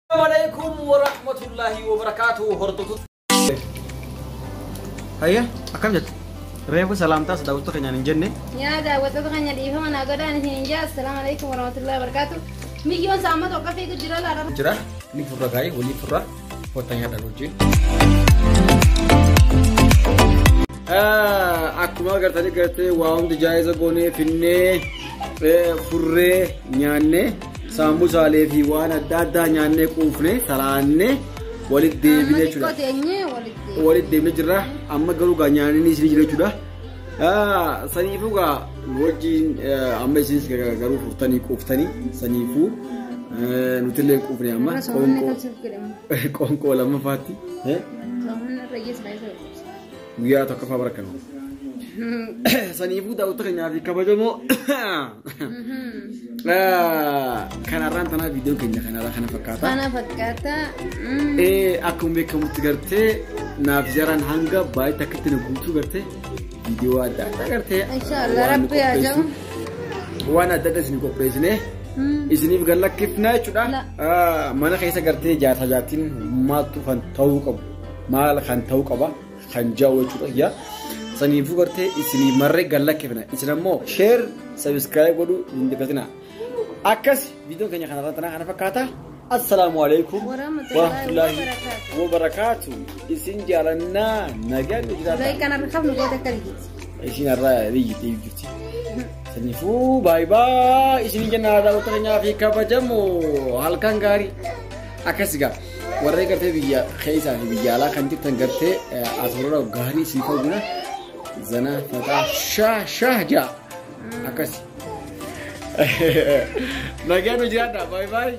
Assalamualaikum warahmatullahi wabarakatuh. Hordofu. Hayya akkam jettu? Reefu salaamtaas daawwattoota keenyaan hin jenne. Yaa daawwattoota keenya dhiifama naa godhaan isin hin jaa. Assalaamu alaikum warahmatullahi wabarakatuh. Miyyoon saamma tokko fiigu jira laata? Jira ni furra gaa'ee walii furra kottan yaadaan hojii. Akkuma agartanii gartee waa hundi jaa'iza goonee finnee furree nyaannee Saamusaalee fi waan adda addaa nyaannee quufne talaannee walitti deebinee jechuudha. Walitti deebinee jirra. Amma garuu gaa nyaanni isin jira jechuudha. Saniifuu gaa wajjin amma isinis garuu furtanii quuftanii saniifuu nutillee quufne amma qoonqoo lammafaatti. Guyyaa tokkoffaa bara kana. Saniifuu daawwattoota keenyaa fi kabajamoo kanarraan tanaa viidiyoo keenya kanarraa kana fakkaata. Kana fakkaata. Mm. Ee, Akkuma beekamutti gartee naaf jaraan hanga baay'ee takkatti na guutuu gartee viidiyoo adda addaa gartee. Inshaallah waan rabbi haa qopheessu- jahu. Waan adda addaa isin qopheessine Mm. isiniif gallakkifnaa jechuudha. La. Ah, Mana keessa gartee jaarsa jaartiin maaltu kan ta'uu qabu. maal kan ta'u qaba kan jahu jechuudha yaa saniifuu gartee isinii marree galla kifna isin ammoo sheer sabiskiraayib godhuu hin dagatinaa akkas viidiyoon keenya kanarra tanaa kana fakkaata assalaamu alaikum warahmatullaahi wabarakaatu isin jaalannaa nagaan nu jiraata Durai kanar khaf nu gote kali. isin irraa biyyi ta'e jirti saniifuu baay baay isin jennaa daawwattoota keenyaa fi kabajamoo halkan gaarii akkas gaa Warree gartee biyya keessaa fi biyya alaa kan jirtan gartee asirra gaarii isii ta'u jira. Zana fataa shaa shaa jaa. Akkasi. Nagaan hojii addaa baay'ee baay'ee.